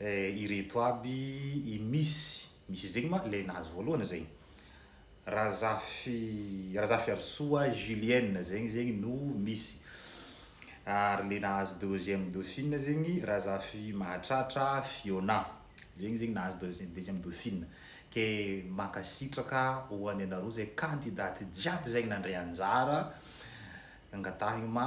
Eh ireto aby i miss miss zegny ma lay nahazo voalohany zegny Razafy Razafiarisoa Julienne zegny zegny no miss ary le nahazo deuxième dauphine zegny Razafy Mahatratra Fiona zegny zegny nahazo deuxi- deuxième dauphine ke mankasitraka ho an'ianareo zay candidates jiaby zay nandray anjara angatahigny ma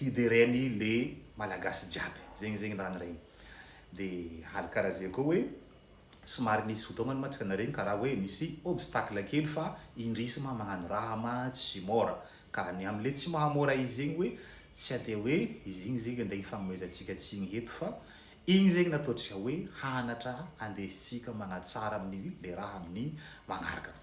hidereny le malagasy jiaby zegny zegny raha niregny de hal karaha ze koa hoe somary nisy fotoagna mantsika naregny karaha hoe misy obstacle kely fa indrisy ma magnano raha ma tsy môra ka ny am le tsy mahamôra izy zegny hoe tsy ade hoe izy igny zegny ande hifagnomezantsika tsigny heto fa igny zegny natao tsika hoe hanatra andesintsika magnatsara aminy le raha aminy magnaraka.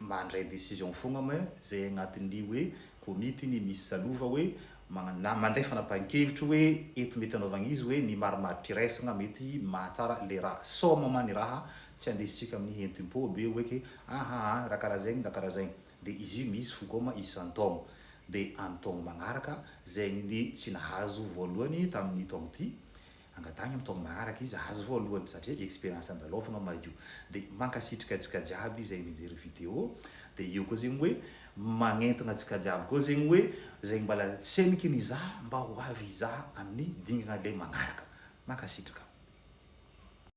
mandray decision fogna moa zay agnatin'ny hoe komity iny misy salova hoe magna manday fanapahan-kevitry hoe eto mety anaovagna izy hoe ny marimaritra iraisagna mety mahatsara le raha soma ma ny raha tsy andesitsika amin'ny hentim-po be hoe ke aha a raha karaha zegny na karaha zegny de izy io misy fokoma isan-taogno de amin'ny taogno magnaraka zegny ny tsy nahazo voalohany tamin'ny taogno ty Angataha ny amin'ny taona manaraka izy aza voalohany satria experience andalofina Maio de mankasitrika antsika jiaby izay nijery video de eo koa zegny hoe magnentina antsika jiaby koa zegny hoe zay mbala tsy heniky nizaha mba ho avy hizaha amin'ny dingana le magnaraka. Mankasitraka.